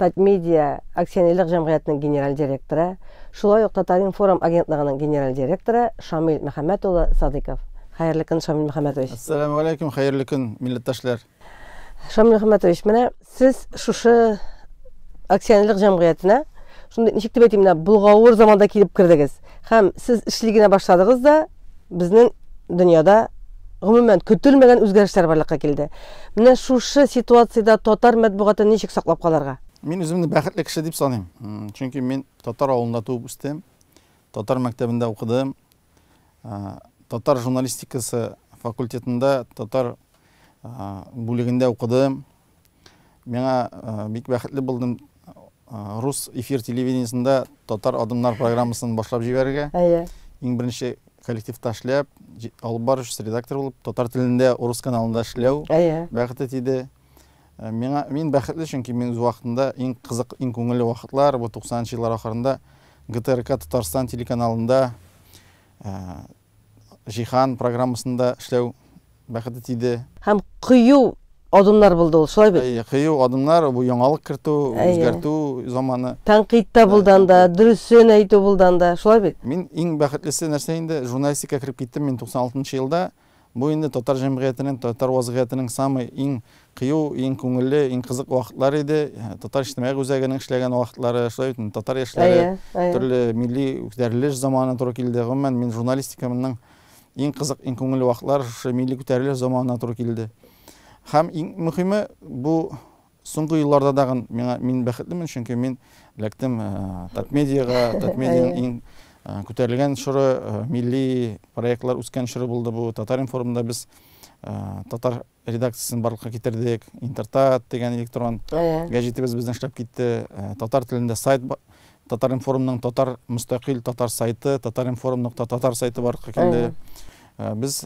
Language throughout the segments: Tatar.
Татмедиа акционерлык җәмгыятенең генераль директоры, шулай ук Татаринформ агентлыгының генераль директоры Шамил Мөхәммәт улы Садыйков. Хәерле көн, Шамил Мөхәммәтович. Ассаламу алейкум, хәерле көн, милләттәшләр. Шамил Мөхәммәтович, менә сез шушы акционерлык җәмгыятенә шундый ничек дип әйтим, менә булгавыр заманда килеп кердегез һәм сез эшли генә башладыгыз да, безнең дөньяда гомумән көтелмәгән үзгәрешләр барлыкка килде. Менә шушы ситуациядә татар матбугатын ничек саклап калырга? Мин үземне бәхетле кеше дип саныйм. Чөнки мин татар авылында туып үстем, татар мәктәбендә укыдым. Татар журналистикасы факультетында татар бүлегендә укыдым. Миңа бик бәхетле булдым рус эфир телевидениесендә татар адымнар программасын башлап җибәрергә. Әйе. Иң беренче коллективта эшләп, алып баручы редактор булып, татар телендә урыс каналында эшләү бәхете тиде. Э, миңа мин бәхетле чөнки мин үз вакытында иң кызык иң күңелле вакытлар бу 90 нчы еллар ахырында гтрк татарстан телеканалында э, Җиһан программасында эшләү бәхете тиде. Һәм кыю адымнар булды ул, шулай бит? Әйе, кыю адымнар, бу яңалык кертү, үзгәртү заманы. Тәнкыйть тә булды анда, дөресен әйтү булды анда, шулай бит? Мин иң бәхетлесе нәрсә инде, журналистикага кереп киттем мин 96 нчы елда. Бу инде татар җәмгыятенең, татар вазгыятенең самый иң Кыю иң күңелле, иң кызык вакытлар иде. Татар иҗтимагый үзәгенең эшләгән вакытлары, шулай бит инде, татар яшьләре, төрле милли күтәрелеш заманы туры килде. Гомумән, мин журналистикамның иң кызык, иң күңелле вакытлары шушы милли күтәрелеш заманына туры килде. Һәм иң мөһиме, бу соңгы елларда тагын миңа мин бәхетлемен, чөнки мин эләктем Татмедиага, Татмедианың иң күтәрелгән чоры, милли проектлар үскән чоры булды бу. Татар-информда без татар редакциясен барлыкка китердек, Интертат дигән электрон гәҗитебез безнең эшләп китте, татар телендә сайт Татар-информның татар мөстәкыйль татар сайты, Татар-информ нокта татар сайты барлыкка килде. Без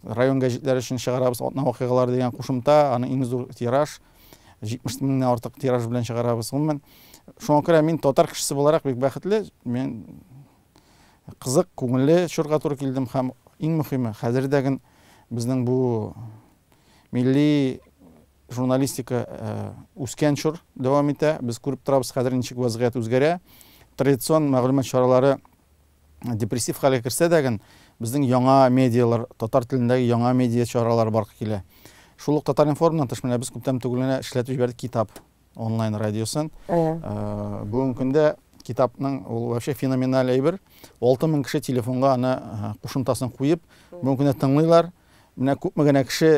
район гәҗитләре өчен чыгарабыз, Атна вакыйгалары дигән кушымта, аны иң зур тираж, 70 меңнән артык тираж белән чыгарабыз. Гомумән, шуңа күрә мин татар кешесе буларак бик бәхетле, мин кызык, күңелле чорга туры килдем һәм иң мөхиме, хәзер дә ген безнең бу милли журналистика үскән чор дәвам итә. Без күреп торабыз, хәзер ничек вазгыять үзгәрә. Традицион мәгълүмат чаралары депрессив хәлгә керсә дә ген, безнең яңа медиалар, татар телендәге яңа медиа чаралары барлыкка килә. Шул ук Татар-информнан тыш, менә без күптән түгел генә эшләтеп җибәрдек китап. онлайн радиосын. Ә. Бүгенге көндә китапның ул вообще феноменаль әйбер. 6000 кеше телефонга аны кушымтасын куеп, бүгенге көндә тыңлыйлар. Менә күпме генә кеше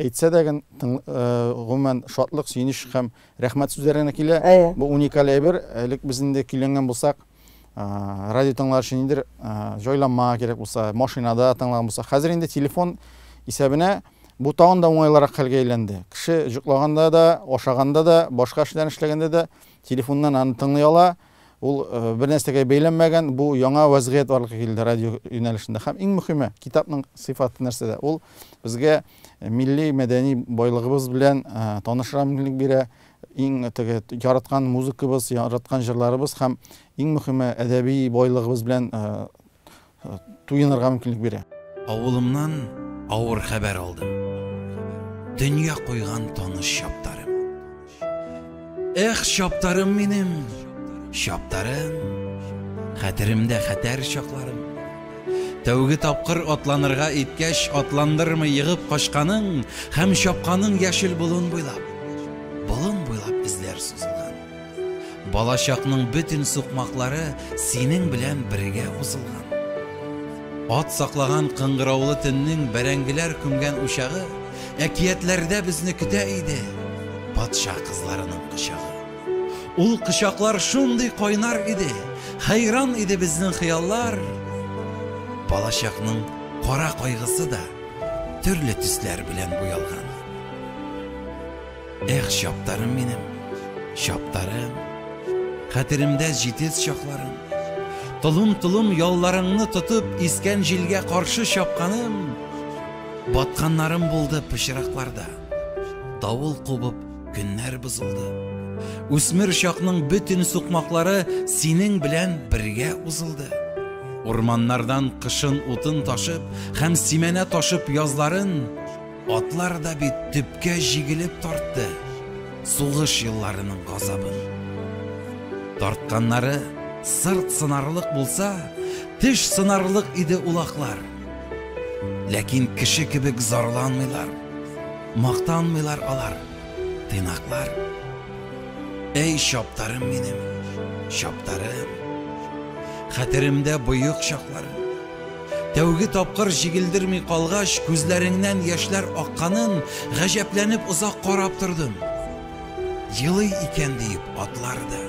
әйтсә дә гын, гомумән шатлык, сөенеч һәм рәхмәт сүзләренә килә. Бу уникаль әйбер. Элек без инде көйләнгән булсак, Радио тыңлар өчен ниндер җайланма кирәк булса, машинада тыңлаган булса, хәзер инде телефон исәбенә бу тагын да уңайлырак хәлгә әйләнде. Кеше җоклаганда да, ашаганда да, башка эшләрен эшләгәндә дә телефоннан аны тыңлый ала. Ул бер нәрсәгә бәйләнмәгән, бу яңа вәзгыять барлыкка килде радио юнәлешендә. Һәм иң мөһиме, китапның сыйфаты нәрсәдә? Ул безгә милли мәдәни байлыгыбыз белән танышырга мөмкинлек бирә, Иң теге яраткан музыкабыз, яраткан җырларыбыз һәм иң мөхиме әдәби байлыгыбыз белән туенырга мөмкинлек бирә. Авылымнан авыр хәбәр алдым. Дөнья куйган таныш чаптарым. Эх, чаптарым минем, чаптарым, Хәтеремдә хәтәр чакларым. Тәүге тапкыр атланырга иткәч, атландырмый егып качканың һәм чапканың яшел болын буйлап, болын буйлап эзләр сузылган. Балачакның бөтен сукмаклары синең белән бергә узылган. Ат саклаган кыңгыраулы төннең бәрәңгеләр күмгән учагы әкиятләрдә безне көтә иде, патша кызларының кочагы. Ул кочаклар шундый кайнар иде, хәйран иде безнең хыяллар. Балачакның кара кайгысы да төрле төсләр белән буялган. Эх, чаптарым минем, чаптарым, хәтеремдә җитез чакларым. Толым-толым ялларыңны тотып, искән җилгә каршы чапканым, батканнарым булды пычракларда. Давыл кубып, Көннәр бозылды. Үсмер чакның бөтен сукмаклары синең белән бергә узылды. Урманнардан кышын утын ташып һәм симәнә ташып язларын атлар да бит төпкә җигелеп тартты. Сугыш елларының газабын. Тартканнары сырт сынарлык булса, теш сынарлык иде улаклар. Ләкин кеше кебек зарланмыйлар. Мактанмыйлар алар, тыйнаклар. Әй, чаптарым минем, чаптарым. Хәтеремдә боек чакларым. Тәүге тапкыр җигелдерми калгач, күзләреңнән яшьләр акканын гаҗәпләнеп озак карап тордым. Елый икән диеп атлар да.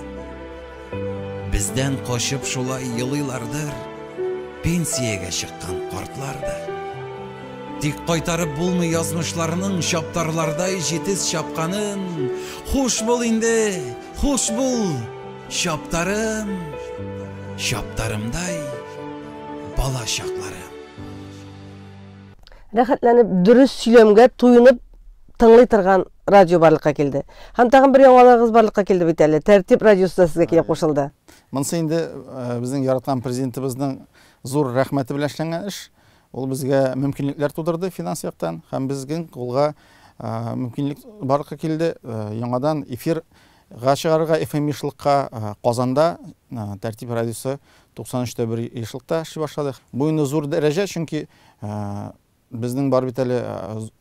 Бездән качып шулай елыйлардыр, Пенсиягә чыккан картлар да. Тик кайтарып булмый язмышларның Чаптарлардай җитез чапканын. Хуш бул инде, хуш бул, чаптарым, Чаптарымдай бала чакларым. Рәхәтләнеп, дөрес сөйләмгә туенып тыңлый торган радио барлыкка килде. Һәм тагын бер яңалыгыгыз барлыкка килде бит әле. Тәртип радиосы да сезгә килеп кушылды. Монсы инде э, безнең яраткан президентыбызның зур рәхмәте белән эшләнгән эш. Ул безгә мөмкинлекләр тудырды финанс яктан һәм безнең кулга э, мөмкинлек барлыкка килде. Э, яңадан эфир га чыгарырга FM ешлыкка Казанда Тәртип радиосы 93 тә 1 ешлыкта эшли башлады. Бу инде зур дәрәҗә, чөнки Безнең бар бит әле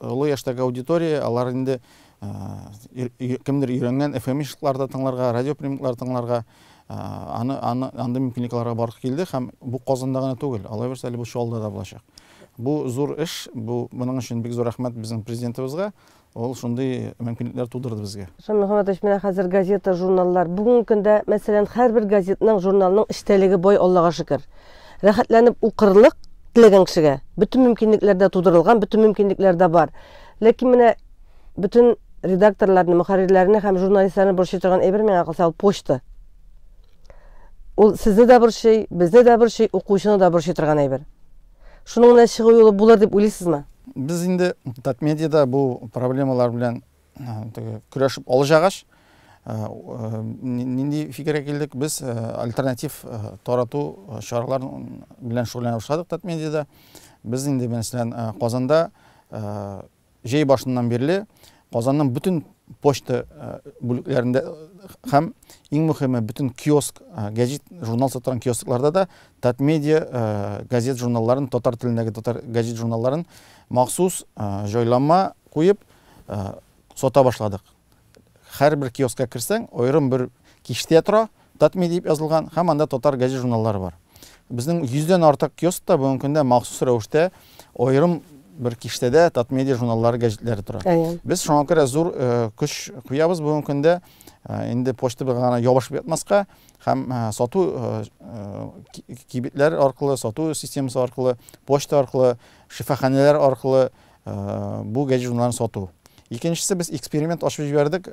олы яшьтәге аудитория, алар инде кемдер өйрәнгән FM-ишларда тыңларга, радиоприемниклар тыңларга, аны, аны, андый мөмкинлекләргә барып килде һәм бу Казанда гына түгел, алайбыз әле бу Чаллыда да булачак. Бу зур эш, бу моның өчен бик зур рәхмәт безнең президентыбызга, Ул шундый мөмкинлекләр тудырды безгә. Ислам Мөхәммәтович, менә хәзер газета, журналлар. Бүгенге көндә, мәсәлән, һәрбер газетның, журналның эчтәлеге бай, Аллага шөкер. Рәхәтләнеп укырлык теләгән кешегә бөтен мөмкинлекләр дә тудырылган, бөтен мөмкинлекләр дә бар. Ләкин менә бөтен редакторларны, мөхәррирләрне һәм журналистларны борчый торган әйбер миңа калса ул почта. Ул сезне дә борчый, безне дә борчый, укучыны да борчый торган әйбер. Шуның менә чыгу юлы булыр дип уйлыйсызмы? Без инде Татмедиада бу проблемалар белән көрәшеп алҗагач, нинди фикергә килдек? Без альтернатив тарату чаралары белән шөгыльләнә башладык Татмедиада. Без инде мәсәлән Казанда җәй башыннан бирле Казанның бөтен почта бүлекләрендә һәм, иң мөхиме, бөтен киоск, гәҗит, журнал сатыран киоскларда да Татмедиа газет-журналларын, татар телендәге татар гәҗит-журналларын махсус җайланма куеп сата башладык. Һәрбер киоскка керсәң, аерым бер киштә тора, Татми дип язылган һәм анда татар гәзит-журналлары бар. Безнең йөздән артык киоскта бүгенге көндә махсус рәвештә аерым бер киштәдә Татмедиа журналлары, гәҗитләре тора. Без шуңа күрә зур көч куябыз бүгенге көндә инде почтабызга гына ябышып ятмаска һәм сату кибетләр аркылы, сату системасы аркылы, почта аркылы, шифаханәләр аркылы Бу гаджетларын сату. Икенчесе без эксперимент ашып җибәрдек,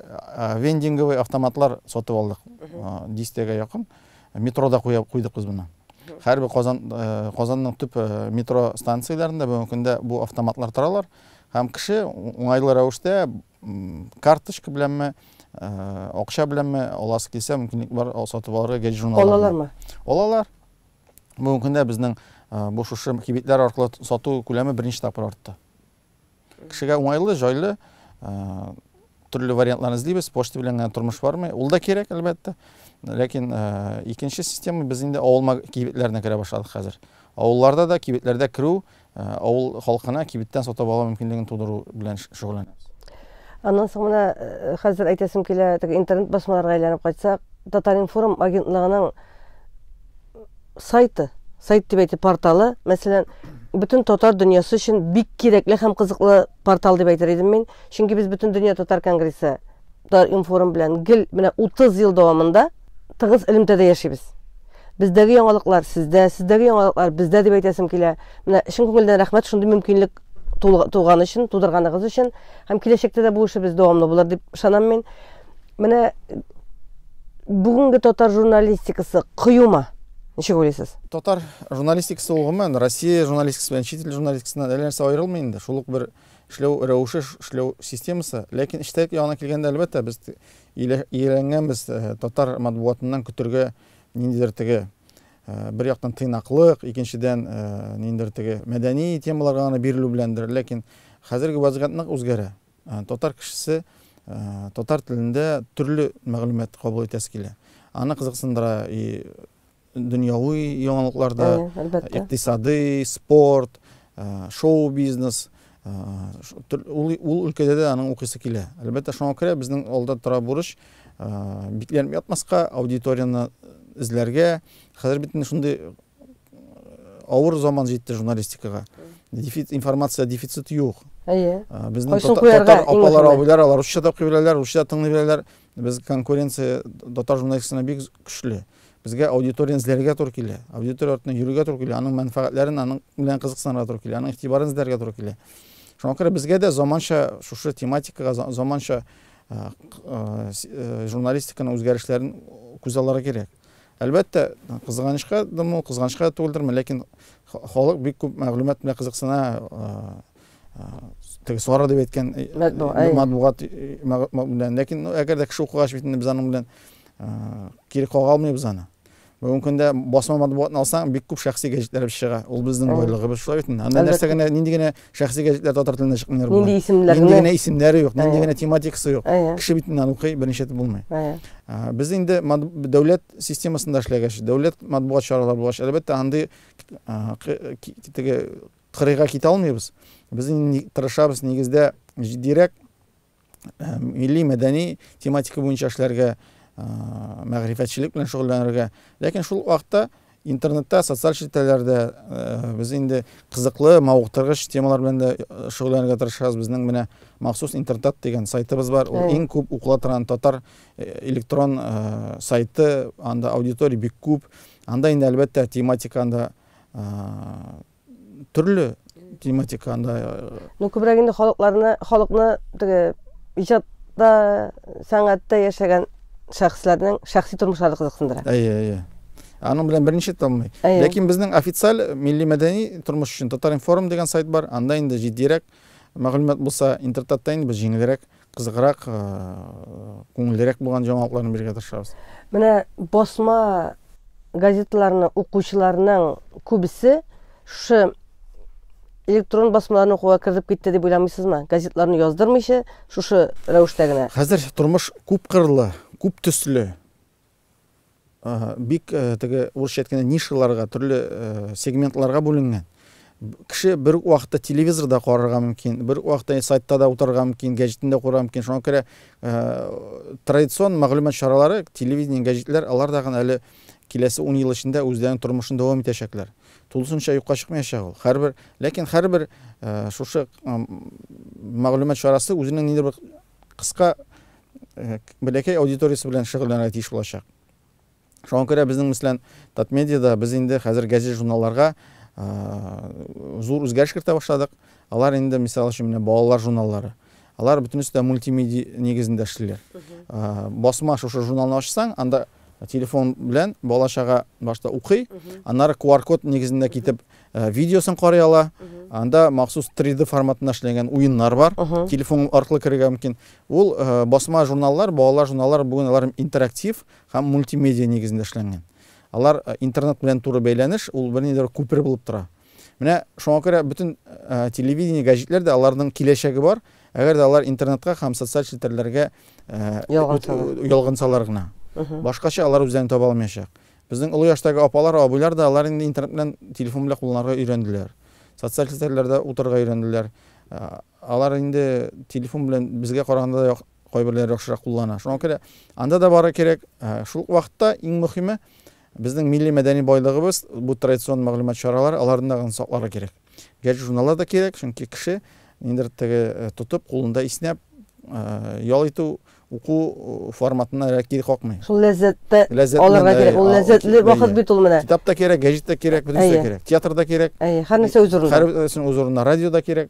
вендинговый автоматлар сатып алдык. Дистәгә якын метрода куеп куйдык без моны. Хәрби Казан Казанның төп метро станцияләрендә бүгенге көндә бу автоматлар торалар һәм кеше уңайлы рәвештә карточка беләнме акча беләнме аласы килсә мөмкинлек бар сатып алырга гәҗит журналлар алалармы алалар бүгенге көндә безнең бу шушы кибетләр аркылы сату күләме берничә тапкыр артты кешегә уңайлы җайлы төрле вариантларны эзлибез почта белән генә тормыш бармый ул да кирәк әлбәттә ләкин икенче система без инде авыл кибетләренә керә башладык хәзер авылларда да кибетләрдә керү Авыл халкына кибеттән сатып алу мөмкинлеген тудыру белән шөгыльләнәбез. Аннан соң менә хәзер әйтәсем килә, теге интернет басмаларга әйләнеп кайтсак, Татар-информ агентлыгының сайты, сайт дип әйтик, порталы, мәсәлән, бөтен татар дөньясы өчен бик кирәкле һәм кызыклы Портал дип әйтер идем мин, чөнки без бөтен дөнья татар конгрессы татар информ белән гел менә 30 ел дәвамында тыгыз элемтәдә яшибез. Бездәге яңалыклар сездә, сездәге яңалыклар бездә дип әйтәсем килә. Менә чын күңелдән рәхмәт шундый мөмкинлек туган өчен, тудырганыгыз өчен һәм киләчәктә дә бу эшебез дәвамлы булыр дип ышанам мин. Менә бүгенге татар журналистикасы кыюма. Ничек уйлыйсыз? Татар журналистикасы ул гомумән Россия журналистикасы белән чит ил журналистикасыннан әллә нәрсә аерылмый инде. Шул ук бер эшләү рәвеше, эшләү системасы. Ләкин эчтәлек ягына килгәндә, әлбәттә, без ияләнгәнбез э, татар матбугатыннан көтергә ниндидер теге э, бер яктан тыйнаклык, икенчедән э, ниндидер теге мәдәни темаларга гына бирелү беләндер. Ләкин хәзерге вазгыять нык үзгәрә. Ә, татар кешесе ә, татар телендә төрле мәгълүмат кабул итәсе килә. Аны кызыксындыра и дөньяви яңалыклар да, икътисадый, спорт, ә, шоу-бизнес. Ә, ул, ул өлкәдә дә аның укыйсы килә. Әлбәттә, шуңа күрә безнең алда тора бурыч ә, бикләнеп ятмаска, аудиторияне эзләргә. Хәзер бит инде шундый авыр заман җитте журналистикага. Дефит, информация дефицит юк. Әйе. Э, безнең Кайсын татар, куярга, татар иң апалар, мөһиме. абыйлар, алар русча да укый беләләр, русча тыңлый беләләр. Без конкуренция татар журналистикасына бик көчле. Безгә аудиторияне эзләргә туры килә. Аудитория артына йөрергә туры килә, аның мәнфәгатьләрен, аның белән кызыксынырга туры килә, аның игътибарын эзләргә туры килә. Шуңа күрә безгә дә заманча шушы тематикага за- заманча э, к- э, с- э, журналистиканың үзгәрешләрен күзалларга кирәк. Әлбәттә, кызганычка дымы ул, кызганычка түгелдерме, ләкин халык бик күп мәгълүмат белән кызыксына, теге сары дип әйткән матбугат белән. Ләкин әгәр дә кеше укыгач бит инде без аның белән кире кага алмыйбыз аны. Бүгенге көндә басма матбугатны алсаң, бик күп шәхси гәҗитләр чыга. Ул безнең байлыгыбыз шулай бит инде. Анда нәрсә генә, нинди генә Шәхси гәҗитләр татар телендә чыкмыйлар болай. Нинди исемләр? Нинди генә исемнәре юк, нинди генә тематикасы юк. Кеше бит инде аны укый, беренче итеп булмый. Без инде дәүләт системасында эшләгәч, дәүләт матбугат чаралары булгач, әлбәттә, андый теге кырыйга китә алмыйбыз. Без инде тырышабыз, нигездә, җитдирәк Э, милли мәдәни тематика буенча эшләргә э, мәгърифәтчелек белән шөгыльләнергә ләкин шул вакытта интернетта социаль челтәрләрдә э, без инде кызыклы мавыктыргыч темалар белән дә шөгыльләнергә тырышабыз безнең менә махсус интертат дигән сайтыбыз бар ул иң күп укыла торган татар электрон сайты анда аудитория бик күп анда инде әлбәттә тематика анда Төрле тематика анда. Ну, күбрәк инде халыкларны, халыкны теге иҗатта, сәнгатьтә яшәгән шәхесләрнең шәхси тормышлары кызыксындыра. Әйе, әйе. Аның белән берничә томый. Ләкин безнең официаль милли мәдәни тормыш өчен Татаринформ дигән сайт бар. Анда инде җитдирәк мәгълүмат булса, интертатта инде без җиңелрәк. Кызыграк, күңеллерәк булган җаңалыкларны бирергә тырышабыз. Менә басма газеталарны укучыларның күбесе шушы электрон басмаларны укуга кертеп китте дип уйламыйсызмы? Газетларны яздырмыйча, шушы рәвештә генә. Хәзер тормыш күп кырлы, күп төсле. Ага, бик э, теге урысча әйткәндә нишаларга, төрле э, сегментларга бүленгән. Кеше бер үк вакытта телевизорда карарга мөмкин, бер үк вакытта сайтта да утырырга мөмкин, гәҗитендә карарга мөмкин. Шуңа күрә э, традицион мәгълүмат чаралары, телевидение, гәҗитләр, алар да гына әле киләсе 10 ел эчендә үзләренең тормышын дәвам итәчәкләр. Тулысынча юкка чыкмаячак ул. Һәрбер, ләкин һәрбер э, шушы э, мәгълүмат чарасы үзенең ниндидер бер кыска бәләкәй аудиториясе белән шөгыльләнергә тиеш булачак. Шуңа күрә безнең мислән Татмедиада без инде хәзер газет-журналларга зур үзгәреш кертә башладык. Алар инде, мисал өчен, менә балалар журналлары. Алар бөтенесе дә мультимедиа нигезендә эшлиләр. Басма шушы журналны ачсаң, анда Телефон белән бала-чага башта укый, аннары QR-код нигезендә китеп видеосын карый ала. Анда махсус 3D форматында эшләнгән уеннар бар. Телефон аркылы керергә мөмкин. Ул басма журналлар, балалар журналлары бүген алар интерактив һәм мультимедиа нигезендә эшләнгән. Алар интернет белән туры бәйләнеш, ул бернидер күпер булып тора. Менә шуңа күрә бөтен телевидение, гәҗитләр дә аларның киләчәге бар, әгәр дә алар интернетка һәм социаль челтәрләргә ялгансалар гына. Башкача алар үзләрен таба алмаячак. Безнең олы яшьтәге апалар, абыйлар да алар инде интернет белән, телефон белән кулланырга өйрәнделәр. Социаль челтәрләрдә утырырга өйрәнделәр. Алар инде телефон белән безгә караганда да кайберләре яхшырак куллана. Шуңа күрә анда да бары кирәк. Шул ук вакытта иң мөһиме, безнең милли мәдәни байлыгыбыз, бу традицион мәгълүмат чаралары, аларны да гына сакларга кирәк. Гәҗит-журналлар да кирәк, чөнки кеше ниндидер теге тотып, кулында иснәп, ял итү, уку форматына әллә кире какмый. Шул ләззәтте алырга кирәк. Ул ләззәтле вакыт бит ул менә. Китап та кирәк, гәҗит тә кирәк, бөтенесе дә кирәк. Театр да кирәк. Әйе, һәр нәрсә үз урынында. Һәр нәрсә үз урынында. Радио да кирәк.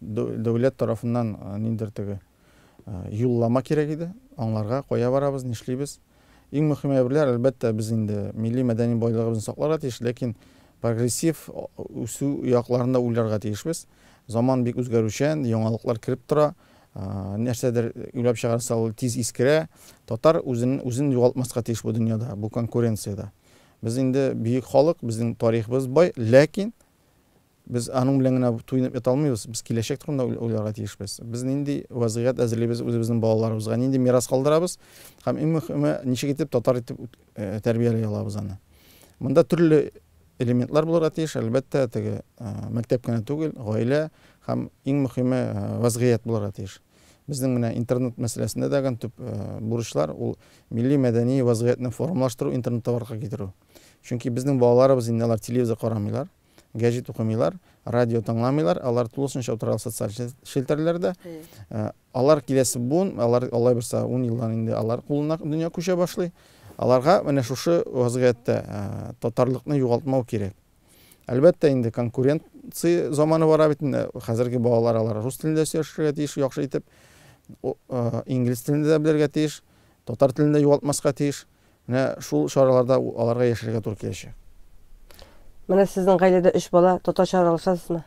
Дәүләт тарафыннан ниндидер теге юллама кирәк иде, аңларга, кая барабыз, нишлибез. Иң мөһим әйберләр, әлбәттә, без инде милли мәдәни байлыгыбызны сакларга тиеш, ләкин прогрессив үсү якларын да уйларга тиешбез. Заман бик үзгәрүчән, яңалыклар кереп тора. Нәрсәдер уйлап чыгарса, ул тиз искерә. Татар үзен, үзен югалтмаска тиеш бу дөньяда, бу конкуренциядә. Без инде бөек халык, безнең тарихыбыз бай, ләкин Без аның белән генә туенып ята алмыйбыз, без киләчәк турында уйларга тиешбез. Без нинди вазгыять әзерлибез үзебезнең балаларыбызга, нинди мирас калдырабыз һәм иң мөхиме, ничек итеп татар итеп тәрбияли алабыз аны. Монда төрле элементлар булырга тиеш, әлбәттә, теге мәктәп кенә түгел, гаилә һәм иң мөхиме вазгыять булырга тиеш. Безнең менә интернет мәсьәләсендә дә төп бурычлар ул милли мәдәни вазгыятьне формалаштыру, интернетта барлыкка китерү. Чөнки безнең балаларыбыз инде алар телевизор карамыйлар. Гәҗит укымыйлар, радио тыңламыйлар, алар тулысынча утыралар социаль челтәрләрдә. Алар киләсе буын, алар алай булса 10 елдан инде алар кулына дөнья күчә башлый. Аларга менә шушы вазгыятьтә татарлыкны югалтмау кирәк. Әлбәттә инде конкуренция заманы бара бит инде. Хәзерге балалар алар рус телендә сөйләшергә тиеш яхшы итеп. Инглиз телендә дә белергә тиеш. Татар телендә югалтмаска тиеш. Менә шул чараларда аларга яшәргә туры киләчәк. Менә сезнең гаиләдә өч бала, татарча аралашасызмы?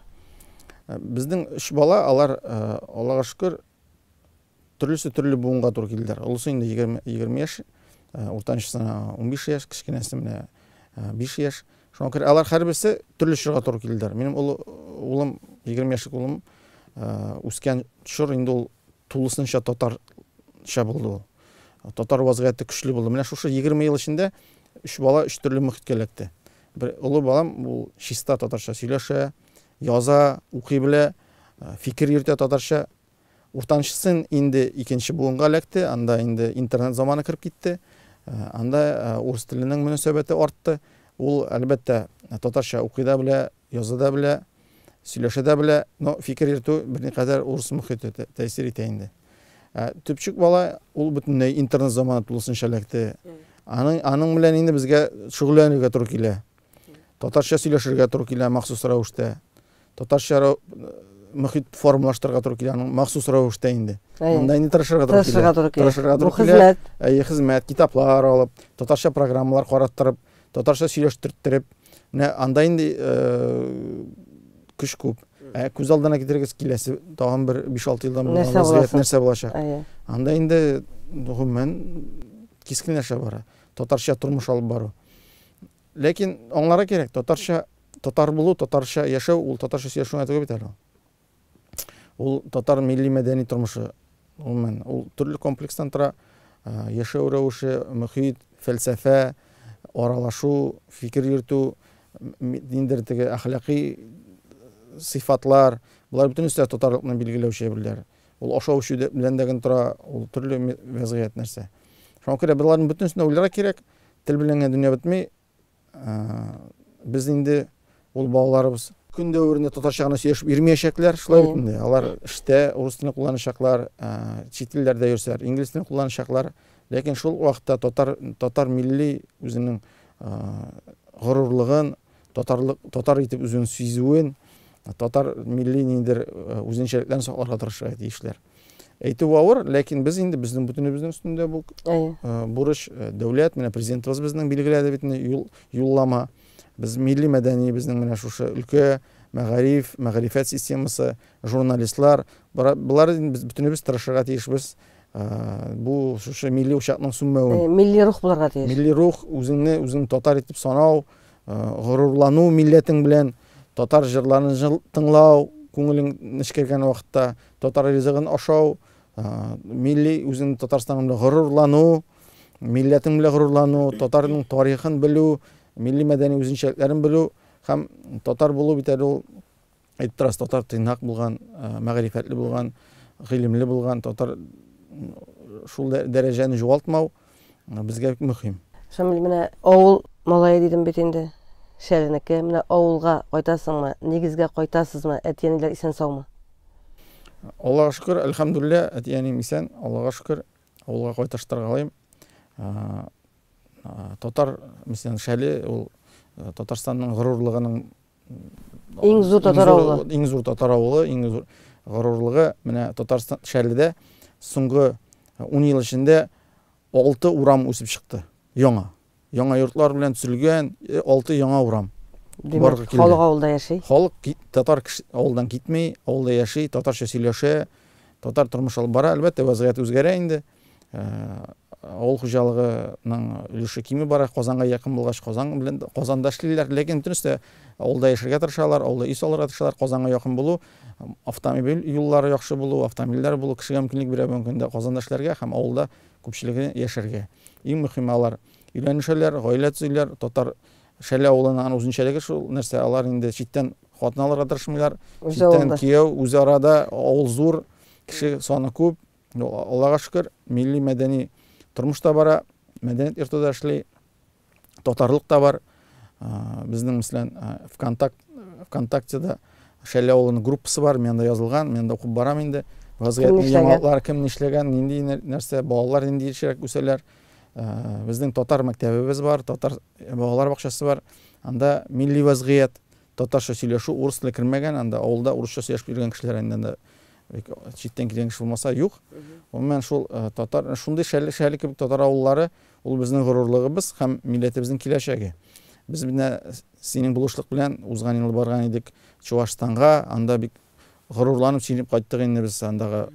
Безнең өч бала, алар, Аллага шөкер, төрлесе төрле буынга туры килделәр. Олысы инде егерме, егерме яшь, уртанчысына унбиш яшь, кечкенәсе менә биш яшь. Шуңа күрә алар һәрберсе төрле чорга туры килделәр. Минем олы улым, егерме яшьлек улым, үскән чор инде ул тулысынча татарча булды ул. Татар вазгыяте көчле булды. Менә шушы 20 ел эчендә өч бала өч төрле мөхиткә эләкте. Бер олы балам ул чиста татарча сөйләшә, яза, укый белә, э, фикер йөртә татарча. Уртанчысын инде икенче буынга эләкте, анда инде интернет заманы кереп китте. Э, анда э, урыс теленең мөнәсәбәте артты. Ул, әлбәттә, татарча укый да белә, Яза да белә, сөйләшә дә белә, но фикер йөртү берникадәр урыс мохите тәэсир итә инде. Ә төпчек бала ул бөтенләй интернет заманы тулысынча эләкте. Аның аның белән инде безгә шөгыльләнергә туры килә. Татарча сөйләшергә туры килә махсус рәвештә. Татарча мохит формалаштырырга туры килә аның махсус рәвештә инде. Монда инде тырышырга туры килә. Тырышырга туры килә. Хезмәт. Әйе, хезмәт, китаплар алып, татарча программалар караттырып, Татарча сөйләштертереп, менә анда инде көч күп. Ә күз алдына китерегез киләсе тагын бер 5-6 елдан бу вазгыять нәрсә булачак? Анда инде гомумән кискенләшә бара. Татарча тормыш алып бару. Ләкин аңларга кирәк, татарча татар булу, татарча яшәү ул татарча сөйләшү генә түгел бит әле. Ул татар милли-мәдәни тормышы, гомумән, ул төрле комплекстан тора. Яшәү рәвеше, мөхит, фәлсәфә, аралашу, фикер йөртү, ниндидер теге әхлакый сыйфатлар, болар бөтенесе дә татарлыкны билгеләүче әйберләр. Ул ашау-эчү белән дә генә тора, ул төрле вәзгыять нәрсә. Шуңа күрә боларның бөтенесен дә уйларга кирәк. Тел белән генә дөнья бетми, Без инде ул балаларыбыз көн дәверендә татарча гына сөйләшеп йөрмәячәкләр, шулай бит инде. Алар эштә урыс телен кулланачаклар, чит илләрдә йөрсәләр, инглиз телен кулланачаклар. Ләкин шул вакытта татар татар милли үзенең горурлыгын, татарлык татар итеп үзен сизүен, татар милли ниндер үзенчәлекләрен сакларга тырышырга тиешләр. Әйтү авыр, ләкин без инде безнең бөтенебезнең өстендә бу бурыч, дәүләт менә президентыбыз безнең билгеләде бит инде юл юллама. Без милли мәдәни безнең менә шушы өлкә мәгариф, мәгърифәт системасы, журналистлар, болар без бөтенебез тырышырга тиешбез. Бу шушы милли учакның сүнмәвен. Милли рух булырга тиеш. Милли рух, үзеңне үзең татар итеп санау, горурлану милләтең белән, татар җырларын тыңлау, күңелең нечкергән вакытта Татар ризыгын ашау, милли үзең Татарстаның белән горурлану, милләтең белән горурлану, татарның тарихын белү, милли мәдәни үзенчәлекләрен белү һәм татар булу бит әле ул әйтеп торасы татар тыйнак булган, мәгърифәтле булган, гыйлемле булган, татар шул дәрәҗәне югалтмау. безгә мөһим. Шамил, менә авыл малае дидем бит инде, Шәренеке. Менә авылга кайтасыңмы, нигезгә кайтасызмы, әти-әниләр исән-саумы? Аллага шөкер, әлхәмдүлиллә, әти-әнием исән, Аллага шөкер, авылга кайташтыргалыйм. Татар, мәсәлән, Шәле, ул Татарстанның горурлыгының Иң зур татар авылы. Иң зур татар авылы, иң зур горурлыгы менә Татарстан шәрледә соңгы 10 ел эчендә 6 урам үсеп чыкты. Яңа. Яңа йортлар белән төзелгән 6 яңа урам. Димәк, халык авылда яши. Халык татар авылдан китми, авылда яши, татарча сөйләшә, татар тормыш алып бара. Әлбәттә, вазгыять үзгәрә инде. авыл хуҗалыгының өлеше кими бара казанга якын булгач казан белән казанда эшлиләр ләкин бөтенесе дә авылда яшәргә тырышалар авылда өй салырга тырышалар казанга якын булу автомобиль юллары яхшы булу автомобильләр булу кешегә мөмкинлек бирә бүгенге көндә казанда эшләргә һәм авылда күпчелеге яшәргә иң мөһиме алар өйләнешәләр гаилә төзиләр татар шәле авылының үзенчәлеге шул нәрсә алар инде читтән хатын алырга тырышмыйлар читтән кияү үзара да авыл зур кеше саны күп Ну, Аллага шөкер, милли мәдәни тормыш та бара, мәдәният йорты да эшли, татарлык та бар. Безнең, мәсәлән, ВКонтакт, ВКонтактеда Шәле авылының группасы бар, мен анда язылган, мен анда укып барам инде. Вазгыятьне яңалыклар кем нишләгән, нинди нәрсә, балалар нинди ешрәк үсәләр. Безнең татар мәктәбебез бар, татар балалар бакчасы бар. Анда милли вазгыять, Татарча сөйләшү, урыс теле кермәгән анда, авылда урысча сөйләшеп йөргән кешеләр инде анда бик читтән килгән кеше булмаса юк. Гомумән шул татар, шундый шәле шәле кебек татар авыллары, ул безнең горурлыгыбыз һәм милләтебезнең киләчәге. Без менә синең булышлык белән узган ел барган идек Чуашстанга, анда бик горурланып сөйләп кайттык инде без андагы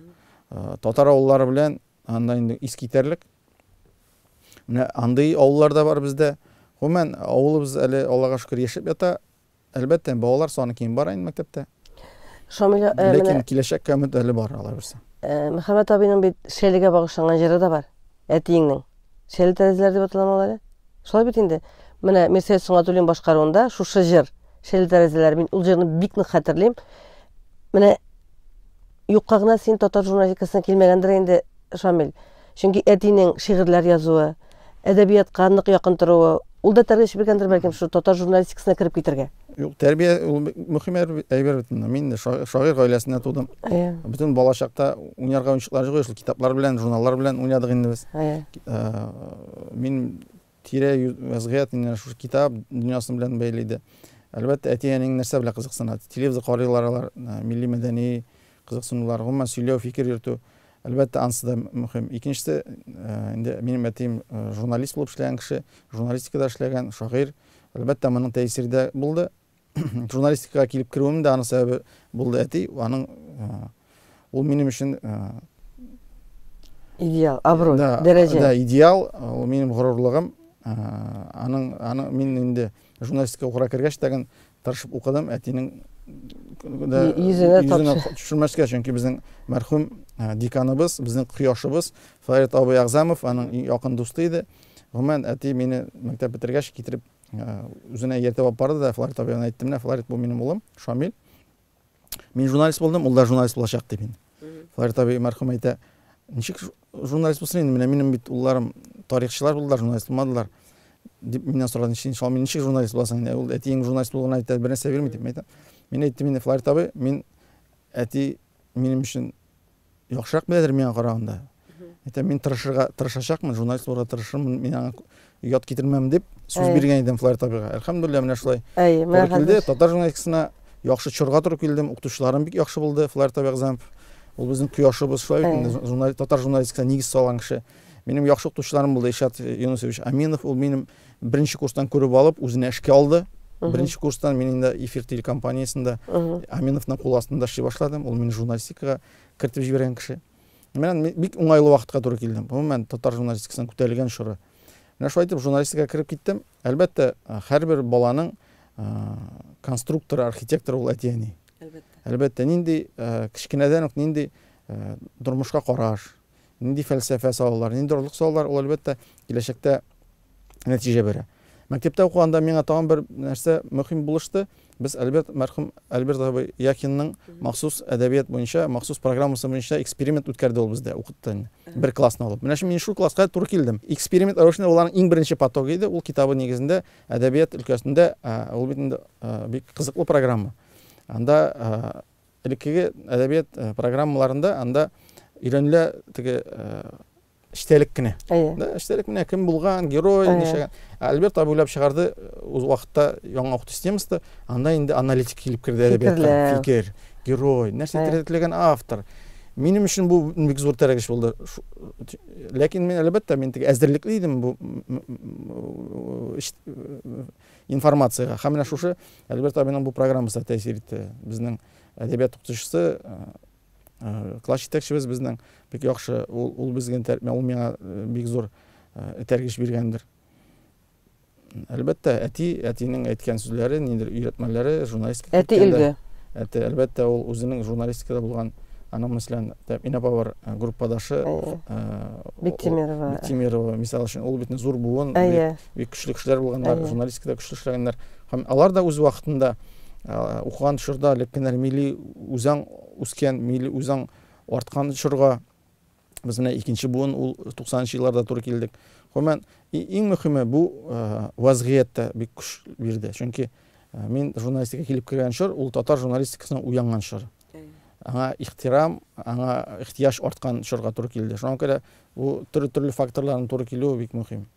татар авыллары белән. Анда инде искитәрлек. Менә андый авыллар да бар бездә. Гомумән, авылыбыз әле, Аллага шөкер, яшәп ята. Әлбәттә, балалар саны кими бара инде мәктәптә. Шамил, э, Ләкин менә киләчәккә өмет әле бар, алай булса. э, Мөхәммәт абыйның бит Шәлегә багышланган җыры да бар. Әтиеңнең. Шәле тәрәзәләре дип аталамы ул әле? Шулай бит инде. Менә Мирсәет Сөнгатуллин башкаруында шушы җыр, Шәле тәрәзәләре. Мин ул җырны бик нык хәтерлим. Менә Юкка гына син татар журналистикасына килмәгәндер инде, Шамил. Чөнки әтинең шигырьләр язуы, әдәбиятка нык якын торуы, ул да тәрбия чибергәндер, бәлкем, шул татар журналистикасына кереп китергә. Юк, тәрбия ул мөһим әйбер бит инде. Мин шагыйрь гаиләсендә тудым. Әйе. Бөтен балачакта уйнарга уенчыклар җыйгыз, китаплар белән, журналлар белән уйнадык инде без. Әйе. Мин Тирә-юнь вәзгыять инде шушы китап дөньясы белән бәйле иде. Әлбәттә, әти-әниең нәрсә белән кызыксына? Телевизор карыйлар алар, милли-мәдәни кызыксынулар, гомумән сөйләү, фикер йөртү, әлбәттә, ансы да мөһим. Икенчесе, инде минем әтием журналист булып эшләгән кеше, журналистикада эшләгән, шагыйрь. Әлбәттә, моның тәэсире дә булды. журналистикага килеп керүем дә аның сәбәбе булды әти аның ул минем өчен идеал абруй да, дәрәҗә да идеал ул минем горурлыгым аның аның мин инде журналистика укырга кергәч тәген тырышып укыдым әтинең йөзенә төшермәскә чөнки безнең мәрхүм деканыбыз безнең кояшыбыз фарит абый әгъзамов аның якын дусты иде гомумән әти мине мәктәп бетергәч китереп Ә, үзенә ияртеп алып барды да флорид абыйга әйтте менә флорид бу минем улым шамил мин журналист булдым ул да журналист булачак дип инде флорид абый мәрхүм әйтә ничек журналист булсын инде менә минем бит улларым тарихчылар булдылар журналист булмадылар дип миннән сорады иншалла мин ничек журналист буласың инде ул әтиең журналист булуына әйтә бер нәрсә бирми дип әйтә мин әйттем инде флорид абый мин әти минем өчен яхшырак беләдер миңа караганда. Әйтәм, мин тырышырга тырышачакмын, журналист булырга тырышырмын, мин аңа ят китермәм дип сүз биргән идем Флайер Табига. Әлхәмдулилла, менә шулай. Әй, мәхәббәт. Татар журналистикасына яхшы чорга туры килдем, укытучыларым бик яхшы булды, Флайер Табига Замп. Ул безнең кояшыбыз, шулай бит инде, журналист, татар журналистикасына нигез салган кеше. Минем яхшы укытучыларым булды, Ишат Юнусович Аминов, ул минем Беренче курстан күреп алып, үзенә эшкә алды. Беренче курстан мин инде эфир телекомпаниясендә Аминовның кул астында эшли башладым. Ул мине журналистикага кертеп җибәргән кеше. Мен бик уңайлы вакытка туры килдем. Гомумән, татар журналистикасының күтәрелгән чоры. Менә шулай итеп журналистикага кереп киттем. Әлбәттә, һәрбер баланың конструктор, архитектор ул әти-әни. Әлбәттә. Әлбәттә, нинди кечкенәдән үк нинди тормышка караш, нинди фәлсәфә салалар, нинди орлык салалар, ул, әлбәттә, киләчәктә нәтиҗә бирә. Мәктәптә укыганда миңа тагын бер нәрсә мөһим булышты. Без Альберт мәрхүм Альберт абый Яхинның махсус әдәбият буенча, махсус программасы буенча эксперимент үткәрде ул бездә, укытты инде. Бер классны алып. Менә шул мин шул класска туры килдем. Эксперимент рәвешендә уларның иң беренче потогы иде. Ул китабы нигезендә әдәбият өлкәсендә ул бит инде бик кызыклы программа. Анда Элеккеге әдәбият э, программаларында анда өйрәнелә теге э, эчтәлек кенә. Да, эчтәлек менә кем булган, герой, ничәгән. Альберт абый уйлап чыгарды э, үз вакытта яңа укыту системасында, анда инде аналитик килеп керде әдәбиятка. Фикер, герой, нәрсә терәтелгән автор. Минем өчен бу бик зур тәрәгеш булды. Ләкин мин әлбәттә мин теге әзерлекле идем бу информациягә. Һәм менә шушы Альберт абыйның бу программасы да тәэсир итте. Безнең әдәбият укытучысы, класс җитәкчебез безнең бик яхшы, ул, ул безгә, ул миңа бик зур этәргеч биргәндер. Әлбәттә, әти, әтинең әйткән сүзләре, ниндидер өйрәтмәләре, журналистика Әти илге. Әти, әлбәттә, ул үзенең журналистикада булган аның мәсәлән тәэмин апа бар группадашы бектимирова бектимирова мисал өчен ул бит зур буын бик көчле кешеләр булганнар журналистикада көчле эшләгәннәр һәм алар да үз вакытында укыган чорда лепкеннәр милли үзаң үскән милли үзаң арткан чорга без менә икенче буын ул туксанынчы елларда туры килдек гомумән иң мөһиме бу вазгыять та бик көч бирде чөнки мин журналистика килеп кергән чор ул татар журналистикасына уянган чор аңа ихтирам аңа ихтияҗ арткан чорга туры килде шуңа күрә бу төрле төрле факторларның туры килүе бик мөһим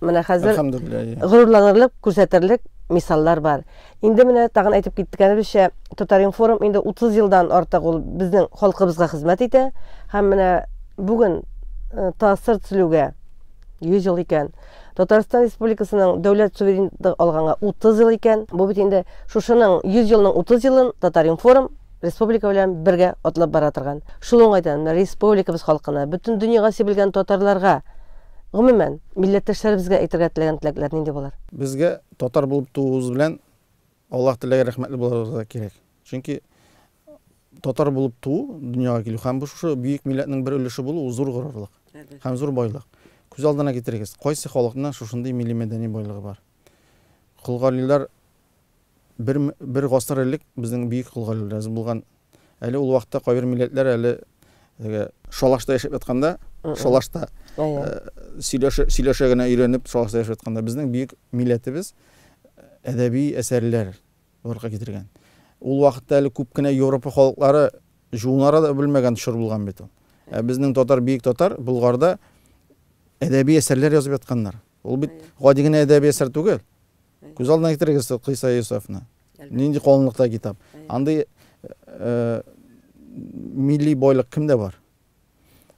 Менә хәзер горурланырлык, күрсәтерлек мисаллар бар. Инде менә тагын әйтеп киткәнебезчә, Татаринформ инде 30 елдан артык ул безнең халкыбызга хезмәт итә һәм менә бүген э, тасыр төзелүгә 100 ел икән. Татарстан Республикасының дәүләт суверенлыгы алганга 30 ел икән. Бу бит инде шушының 100 елның 30 елын Татаринформ республика белән бергә атлап бара торган. Шул уңайдан республикабыз халкына, бөтен дөньяга сибелгән татарларга, гомумән, милләттәшләребезгә әйтергә теләгән теләкләр нинди булыр? Безгә татар булып тууыбыз белән Аллаһ теләгән рәхмәтле булырга кирәк. Чөнки татар булып туу, дөньяга килү һәм бу шушы бөек милләтнең бер өлеше булу зур горурлык һәм зур байлык. Күз алдына китерегез, кайсы халыкның шушындый милли-мәдәни байлыгы бар? Колгарилар бер бер гасыр элек безнең бөек кол галиләребез булган. Әле ул вакытта кайбер милләтләр әле теге шалашта яшәп ятканда, шалашта сөйләшә сөйләшә генә өйрәнеп шалашта яшәп ятканда безнең бөек милләтебез әдәби әсәрләр барлыкка китергән. Ул вакытта әле күп кенә Европа халыклары жуынара да белмәгән чор булган бит ул. Ә безнең татар бөек татар Болгарда әдәби әсәрләр язып ятканнар. Ул бит гади генә әдәби әсәр түгел. Күз алдына китерегез Кыйса Юсефны. Нинди калынлыкта китап. Андый милли бойлык кемдә бар?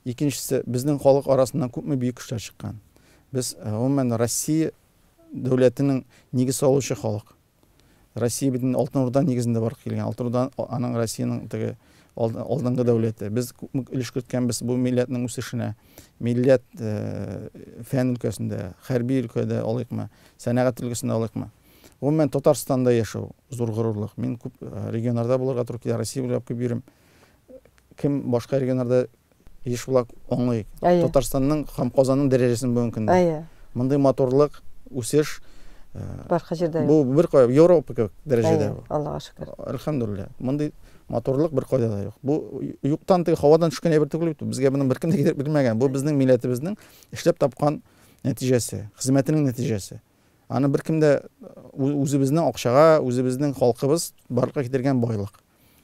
Икенчесе, безнең халык арасыннан күпме бөек кешеләр чыккан. Без гомумән Россия дәүләтенең нигез салучы халык. Россия бит Алтын Урда нигезендә барып килгән. Алтын Урда аның Россиянең теге алдынгы дәүләте. Без күпме өлеш керткәнбез бу милләтнең үсешенә. Милләт фән өлкәсендә, хәрби өлкәдә алыйкмы, сәнәгать өлкәсендә алыйкмы. Гомумән Татарстанда яшәү зур горурлык. Мин күп регионнарда булырга туры килә, Россия буйлап күп йөрим. Кем башка регионнарда Еш була аңлыйк. Татарстанның һәм Казанның дәрәҗәсен бүгенге көндә. Әйе. Мондый матурлык, үсеш башка җирдә юк. Бу беркая Европа кебек дәрәҗәдә. Әйе, Аллага шөкер. Әлхәмдулиллаһ. Мондый матурлык беркайда да юк. Бу юктан теге һавадан төшкән әйбер түгел бит. Безгә моны беркем дә китереп бирмәгән. Бу безнең милләтебезнең эшләп тапкан нәтиҗәсе, хезмәтенең нәтиҗәсе. Аны беркем дә үзебезнең акчага, үзебезнең халкыбыз барлыкка китергән байлык.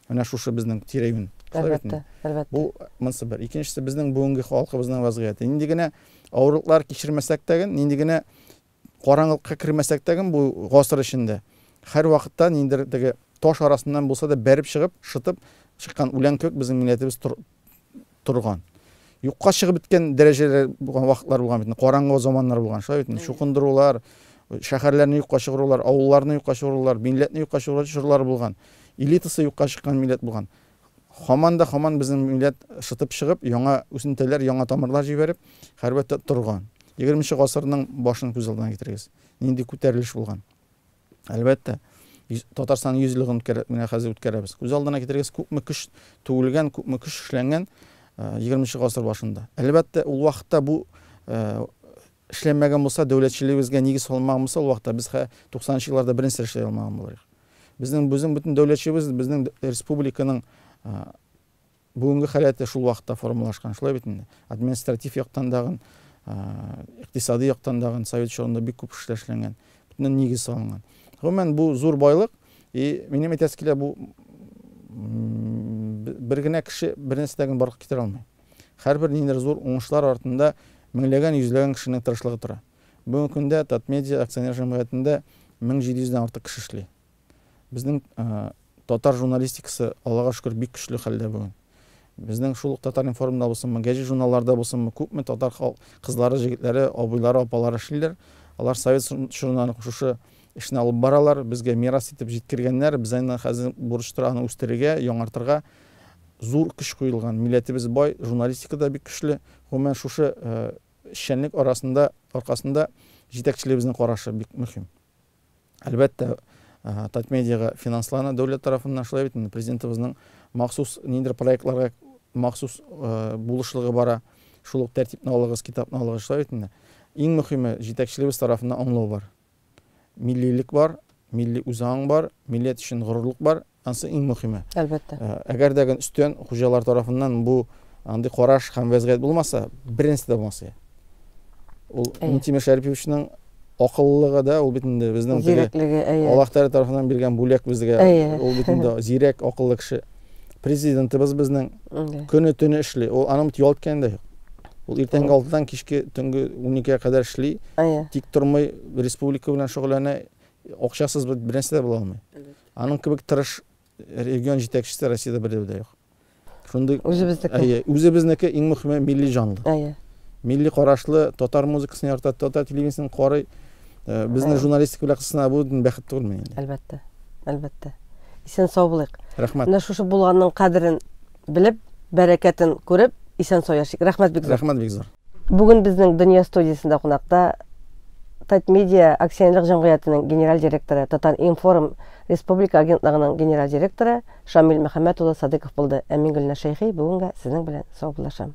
Менә шушы безнең тирә-юнь. Әлбәттә, әлбәттә. Бу монсы бер. Икенчесе безнең бүгенге халкыбызның вазгыяте. Нинди генә авырлыклар кичермәсәк тә, нинди генә караңгылыкка кермәсәк тә, бу гасыр эчендә һәр вакытта ниндидер теге таш арасыннан булса да бәреп чыгып, шытып чыккан үлән кебек безнең милләтебез торган юкка чыгып беткән дәрәҗәләр булган вакытлар булган бит караңгы заманнар булган шулай бит чукындырулар шәһәрләрне юкка чыгарулар авылларны юкка чыгарулар милләтне юкка чыгару чорлары булган элитасы юкка чыккан милләт булган хаман да хаман безнең милләт шытып чыгып яңа үсентеләр яңа тамырлар җибәреп хәрбәттә торган егерменче гасырның башын күз алдына китерегез нинди күтәрелеш булган Әлбәттә, Татарстан 100 еллыгын менә хәзер үткәрәбез. Күз алдына китерегез, күпме көч түгелгән, күпме көч эшләнгән 20 гасыр башында. Әлбәттә, ул вакытта бу эшләнмәгән булса, дәүләтчелегебезгә нигез салмаган булса, ул вакытта без 90 елларда беренче эшләй алмаган булырбыз. Безнең безнең бөтен дәүләтчебез, безнең республиканың Бүгенге халәте шул вакытта формалашкан, шулай бит инде. Административ яктан дагын, икътисади яктан дагын совет чорында бик күп эшләр эшләнгән. Бөтенен нигез салынган. Гомумән, бу зур байлык. И минем әйтәсе килә, бу бер генә кеше бер нәрсә дә генә барлыкка китерә алмый. Һәрбер ниндидер зур уңышлар артында меңләгән, йөзләгән кешенең тырышлыгы тора. Бүгенге көндә Татмедиа акционер җәмгыятендә 1700 дән артык кеше эшли. Безнең татар журналистикасы, Аллага шөкер, бик көчле хәлдә бүген. Безнең шул ук Татар-информда булсынмы, гәҗит журналларда булсынмы, күпме татар кызлары, җегетләре, абыйлары, апалары эшлиләр. Алар совет чорыннан ук шушы эшне алып баралар, безгә мирас итеп җиткергәннәр. Без аны хәзер бурычтыр аны үстерергә, яңартырга зур көч куелган. Милләтебез бай, журналистика да бик көчле. Гомумән шушы эшчәнлек арасында, аркасында җитәкчелегебезнең карашы бик мөһим. Әлбәттә, Татмедиага финанслана дәүләт тарафыннан, шулай бит инде, Президентыбызның махсус ниндидер проектларга махсус булышлыгы бара. Шул ук тәртипне алыгыз, китапны алыгыз, шулай бит инде. Иң мөхиме, җитәкчелебез тарафыннан аңлау бар. Миллилек бар, милли үзаң бар, милләт өчен горурлык бар, Ансы иң мөхиме. Әлбәттә. Э, әгәр дә гын өстен хуҗалар тарафыннан бу андый караш һәм вәзгыять булмаса, беренче дә булмас иде. Ул Минтимер Шәриповичның акыллылыгы да ул бит инде безнең зирәклеге, әйе. Аллаһ Тәгалә тарафыннан биргән бүләк безгә. Ул бит инде зирәк, акыллы кеше. Президентыбыз безнең көне төне эшли. Ул аның бит ялт дә юк. Ул иртәнге 6-дан кичке төнге 12-гә кадәр эшли. Тик тормый, республика белән шөгыльләнә. Акчасыз бернәрсә дә була алмый. Аның кебек тырыш регион җитәкчесе Россиядә бердә дә юк. Шундый Үзебезнеке. Әйе, үзебезнеке иң мөхиме милли җанлы. Әйе. Милли карашлы, татар музыкасын ярата, татар телевидениесен карый. Э, безне журналистика белән кысына бу бәхет түгелме инде? Әлбәттә. Әлбәттә. Исән сау булыйк. Рәхмәт. Менә шушы булганның кадерен Белеп, бәрәкәтен күреп, исән-сау яшик. Рәхмәт бик зур. Рәхмәт бик зур. Бүген безнең Дөнья студиясендә кунакта Татмедиа акционерлык җәмгыятенең генераль директоры, Татар-информ республика агентлыгының генераль директоры Шамил Мөхәммәт улы Садыйков булды. Ә мин Гөлнә Шәйхи бүгенгә сезнең белән саубуллашам.